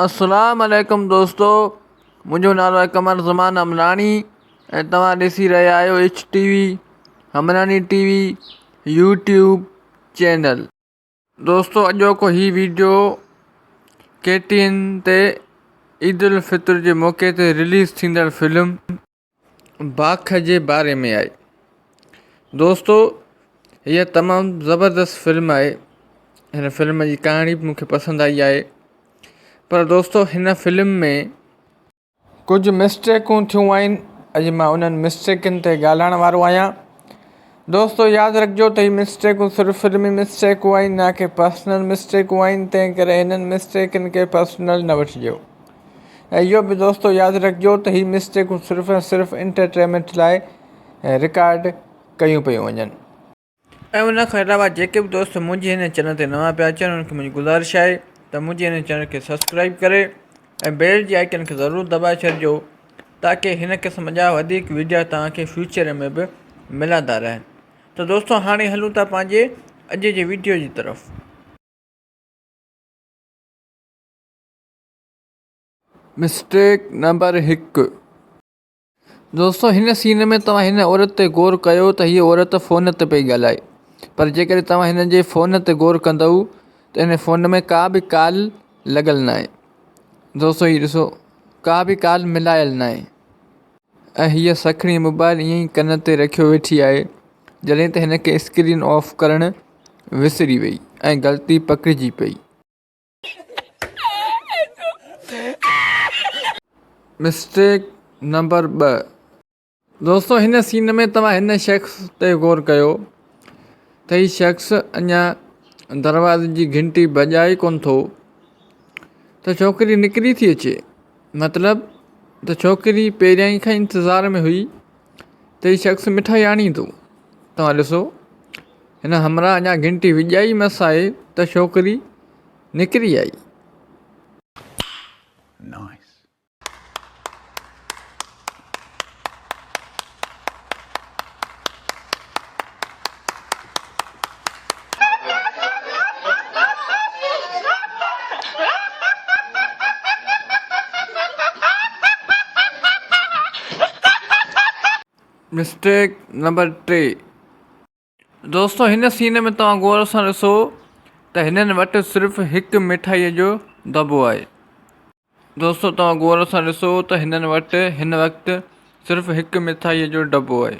اسلام عليڪم دوستو منهنجو نالو آهي قمر زمان امراڻي ۽ توهان ڏسي رهيا آهيو H T V Amrani T V YouTube channel دوستو اڄوڪو هي ويڊيو ڪي ٽي اين تي عيد الفطر جي موقعي تي رليز ٿيندڙ فلم باک جي باري ۾ آهي دوستو هيء تمام زبردست فلم آهي هن فلم جي ڪهاڻي به مونکي پسند آئي آهي پر دوستو هن فلم ۾ ڪجهه مسٽيڪون ٿيون آهن اڄ مان انهن مسٽيڪن تي ڳالهائڻ وارو آهيان دوستو ياد رکجو ته هي مسٽيڪون صرف فلمي مسٽيڪون آهن نه ڪي پرسنل مسٽيڪون آهن تنهن ڪري هنن مسٽيڪن کي پرسنل نه وٺجو ۽ اهو به دوستو ياد رکجو ته هي مسٽيڪون صرف ۽ صرف انٽرٽيمنٽ لاء رڪارڊ ڪيون پيون وڃن. ۽ ان کان علاوه جيڪي به دوست منهنجي هن چينل تي نوان پيا اچن انهن کي منهنجي گذارش آهي ته منهنجي هن چينل کي سبسڪرائب ڪري ۽ بيل جي آئيڪن کي ضرور دٻائي ڇڏجو تاڪي هن قسم جا وڌيڪ وڊيا توهان کي فيوچر ۾ به ملندا رهن ته دوستو هاڻي هلون ٿا پنهنجي اڄ جي وڊيو جي طرف مسٽيڪ نمبر هڪ دوستو هن سين ۾ توهان هن عورت تي غور ڪيو ته هيء عورت فون تي پئي ڳالهائي پر جيڪڏهن توهان هن جي فون تي غور ڪندؤ ته هن فون ۾ ڪا به ڪال لڳل ناهي دوستو هي ڏسو ڪا به ڪال ملايل ناهي ۽ هيء سکڻي موبائل ائين ئي ڪن تي رکيو ويٺي آهي جڏهن ته هن کي اسڪرين آف ڪرڻ وسري وئي ۽ غلطي پڪڙجي پئي. مسٽيڪ نمبر ٻه دوستو هن سين ۾ توهان هن شخص تي غور ڪيو ته هي شخص اڃا دروازي جي گهنٽي بجائي ڪون ٿو ته ڇوڪري نڪري ٿي اچي مطلب ته ڇوڪري پهريائين کان انتظار ۾ هئي ته هي شخص مٺائي آڻيندو تون ڏسو هن همراهه اڃا گهنٽي وڄائي مس آهي ته ڇوڪري نڪري آئي. مسٽيڪ نمبر ٽي دوستو هن سين ۾ توهان غور سان ڏسو ته هنن وٽ صرف هڪ مٺائيء جو دٻو آهي دوستو توهان غور سان ڏسو ته هنن وٽ هن وقت صرف هڪ مٺائيء جو دٻو آهي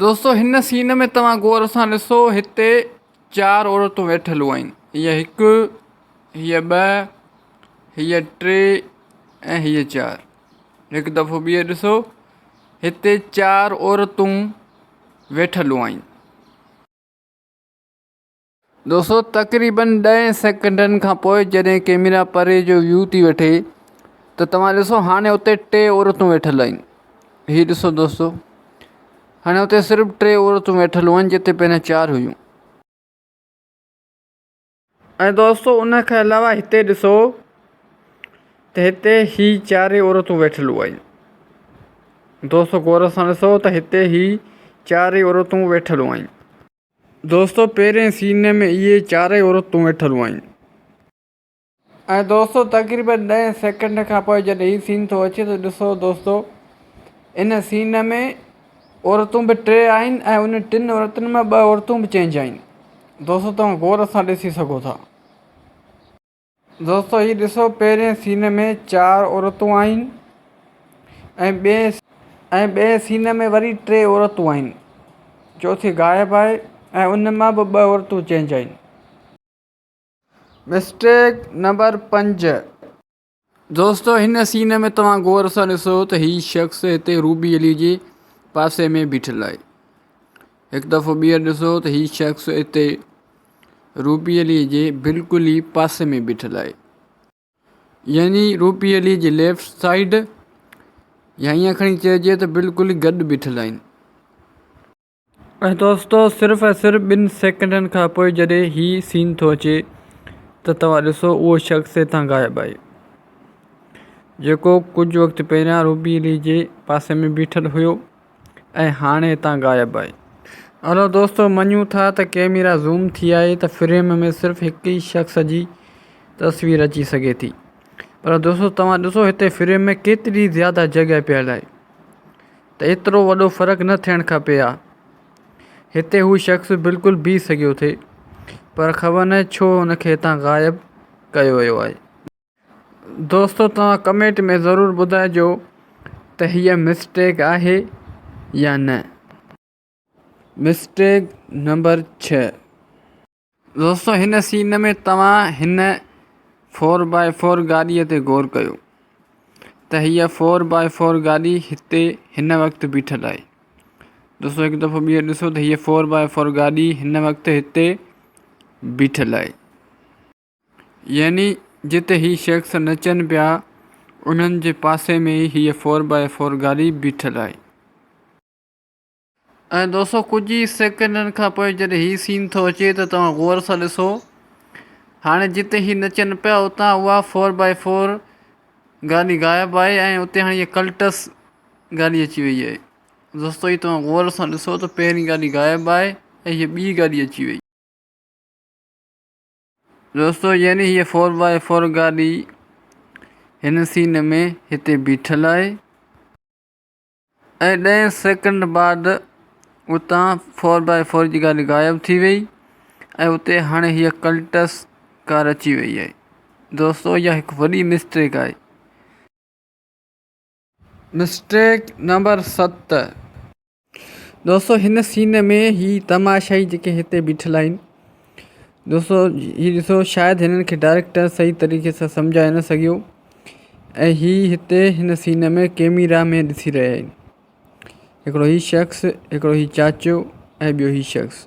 دوستو هن سين ۾ توهان غور سان ڏسو هتي چار عورتون ويٺلون آهن هيء هڪ هيء ٻه هيء ٽي ۽ هيء چار هڪ دفعو ٻيهر ڏسو هتي چار عورتون ويٺلون آهن. دوستو تقريبن ڏهين سيڪنڊن کان پوء جڏهن ڪيميرا پري جو ويو ٿي وٺي ته توهان ڏسو هاڻي اتي ٽي عورتون ويٺل آهن هي ڏسو دوستو هاڻي اتي صرف ٽي عورتون ويٺل هئن جتي پهريان چار هيون ۽ دوستو ان کان علاوه هتي ڏسو ته هتي هي چاري عورتون ويٺل هئن دوستو غور سان ڏسو ته هتي هي چاري عورتون ويٺل هئن دوستو پهرين سيني ۾ اهي چارئي عورتون ويٺل هئيون. ۽ دوستو تقريبن ڏهين سيڪنڊ کان پوء جڏهن هي سين ٿو اچي ته ڏسو دوستو ان سين ۾ عورتون به ٽي آهن ۽ ان ٽن عورتن مان ٻه عورتون به چينج آهن. دوستو توهان غور سان ڏسي سگهو ٿا. دوستو هي ڏسو پهرين سين ۾ چار عورتون آهن ۽ ٻئي ۽ ٻئي سين ۾ وري ٽي عورتون آهن چوٿي غائب آهي ۽ ان مان به ٻه عورتون چينج آهن. مسٽيڪ نمبر پنج. دوستو هن سين ۾ توهان غور سان ڏسو ته هي شخص هتي روبي علي جي پاسي ۾ بيٺل آهي هڪ دفعو ٻيهر ڏسو ته هي شخص هتي روپيلي جي بلڪل ئي پاسي ۾ بيٺل آهي يعني روپيلي جي ليفٽ سائيڊ يا ائين کڻي چئجي ته بلڪل ئي گڏ بيٺل آهن ۽ دوستو صرف ۽ صرف ٻن سيڪنڊن کان پوء جڏهن هي سين ٿو اچي ته توهان ڏسو اهو شخص هتان غائب آهي جيڪو ڪجهه وقت پهريان روپيلي جي پاسي ۾ بيٺل هيو ۽ هاڻي هتان غائب آهي. هلو دوستو مڃون ٿا ته ڪيميرا زوم ٿي آهي ته فريم ۾ صرف هڪ ئي شخص جي تصوير اچي سگهي ٿي پر دوستو توهان ڏسو هتي فريم ۾ ڪيتري زياده جڳهه پيل آهي ته ايترو وڏو فرق نه ٿيڻ کپي ها هتي هو شخص بلڪل بيهي سگهيو ٿي پر خبر ناهي ڇو هن کي هتان غائب ڪيو ويو آهي. دوستو توهان ڪمينٽ ۾ ضرور ٻڌائجو ته هيء مسٽيڪ آهي يا نه. مسٽيڪ نمبر ڇهه. دوستو هن سين ۾ توهان هن فور باء فور گاڏيء تي غور ڪيو ته هيء فور باء فور گاڏي هتي هن وقت بيٺل آهي. دوستو هڪ دفعو ٻيهر ڏسو ته هيء فور باء فور گاڏي هن وقت هتي بيٺل آهي. يعني جتي هي شخص نچن پيا انهن جي پاسي ۾ ئي هيء فور باء فور گاڏي بيٺل آهي. ۽ دوستو ڪجهه ئي سيڪنڊن کان پوء جڏهن هي سين ٿو اچي ته توهان غور سان ڏسو هاڻي جتي هي نچن پيا اتان اها فور باء فور گاڏي غائب آهي ۽ اتي هاڻي هيء ڪلٽس گاڏي اچي وئي آهي. دوستو هي توهان غور سان ڏسو ته پهرين گاڏي غائب آهي ۽ هيء ٻي گاڏي اچي وئي. دوستو يعني هيء فور بائي فور گاڏي هن سين ۾ هتي بيٺل آهي ۽ ڏهه سيڪنڊ بعد اتان فور بائي فور جي گاڏي غائب ٿي وئي ۽ اتي هاڻي هيء ڪلٽس ڪار اچي وئي آهي دوستو اها هڪ وڏي مسٽيڪ آهي. مسٽيڪ نمبر ست دوستو هن سين ۾ هي تماشائي جيڪي هتي بيٺل آهن دوستو هي ڏسو شايد هنن کي ڊائريڪٽر صحيح طريقي سان سمجهائي نه سگهيو ۽ هي هتي هن سين ۾ ڪيميرا ۾ ڏسي رهيا آهن هڪڙو هي شخص هڪڙو هي چاچو ۽ ٻيو هي شخص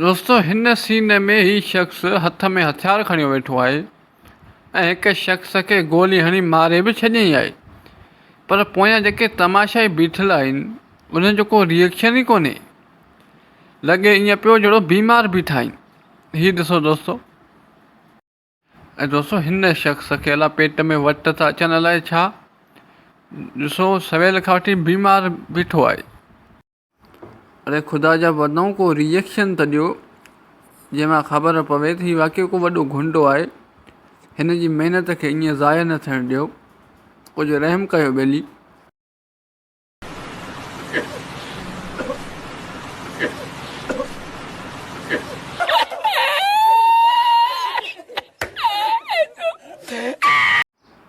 دوستو هن سين ۾ هي شخص هٿ ۾ هٿيار کڻيو ويٺو آهي ۽ هڪ شخص کي گولي هڻي ماري به ڇڏيائين آهي پر پويان جيڪي تماشائي بيٺل آهن انهن جو ڪو ريئڪشن ئي ڪونهي لڳي ائين پيو جهڙو بيمار بيٺا آهن هي ڏسو دوستو ۽ دوستو هن شخص کي الائي پيٽ ۾ وٽ ٿا اچن الائي ڇا ڏسو سويل کان وٺي بيمار بيٺو آهي. اڙي خدا جا بندؤ ڪو ريئڪشن ته ڏيو جنهن مان خبر پوي ته هي واقعي ڪو وڏو گنڊو آهي هن جي محنت کي ائين ضايع نه ٿيڻ ڏيو ڪجهه رحم ڪيو ٻيلي.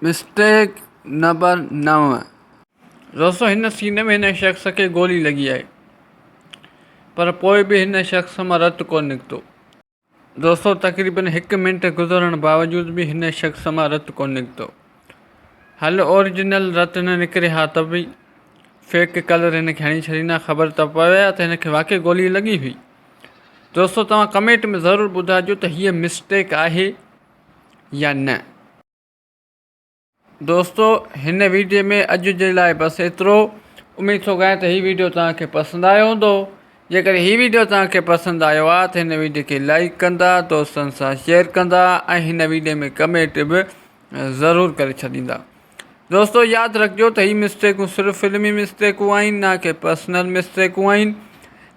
مسٽيڪ نمبر نو دوستو هن سين ۾ هن شخص کي گولي لڳي آهي پر پوء به هن شخص مان رت ڪونه نڪتو دوستو تقريبن هڪ منٽ گذرڻ باوجود به هن شخص مان رت ڪونه نڪتو. هل اورجنل رت نه نڪري ها ته به فيڪ ڪلر هن کي هڻي ڇڏيندا خبر ته پوي ها ته هن کي واقعي گولي لڳي هئي. دوستو توهان ڪمينٽ ۾ ضرور ٻڌائجو ته هيء مسٽيڪ آهي يا نه. دوستو هن ويڊيو ۾ اڄ جي لاء بس ايترو اميد ٿو ڪريان ته هي ويڊيو توهان کي پسند آيو هوندو جيڪڏهن هي ويڊيو توهان کي پسند آيو آهي ته هن ويڊيو کي لائڪ ڪندا دوستن سان شيئر ڪندا ۽ هن ويڊيو ۾ ڪمينٽ به ضرور ڪري ڇڏيندا دوستو ياد رکجو ته هي مسٽيڪون صرف فلمي مسٽيڪون آهن نه ڪي پرسنل مسٽيڪون آهن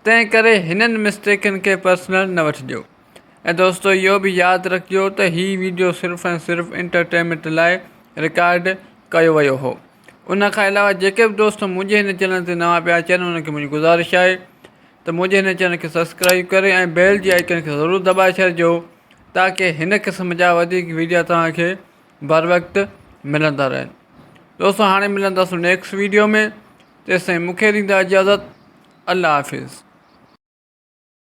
تنهن ڪري هنن مسٽيڪن کي پرسنل نه وٺجو ۽ دوستو اهو به ياد رکجو ته هي ويڊيو صرف ۽ صرف انٽرٽينمينٽ لاء رڪارڊ ڪيو ويو هو ان کان علاوه جيڪي به دوست منهنجي هن چينل تي نوان پيا اچن انهن کي منهنجي گذارش آهي ته منهنجي هن چينل کي سبسڪرائب ڪري ۽ بيل جي آئڪن کي ضرور دٻائي ڇڏجو تاڪي هن قسم جا وڌيڪ ويڊيو توهانکي بر وقت ملندا رهن دوستو هاڻي ملنداسون نيڪسٽ ويڊيو ۾ تيسين مونکي ڏيندا اجازت الله حافظ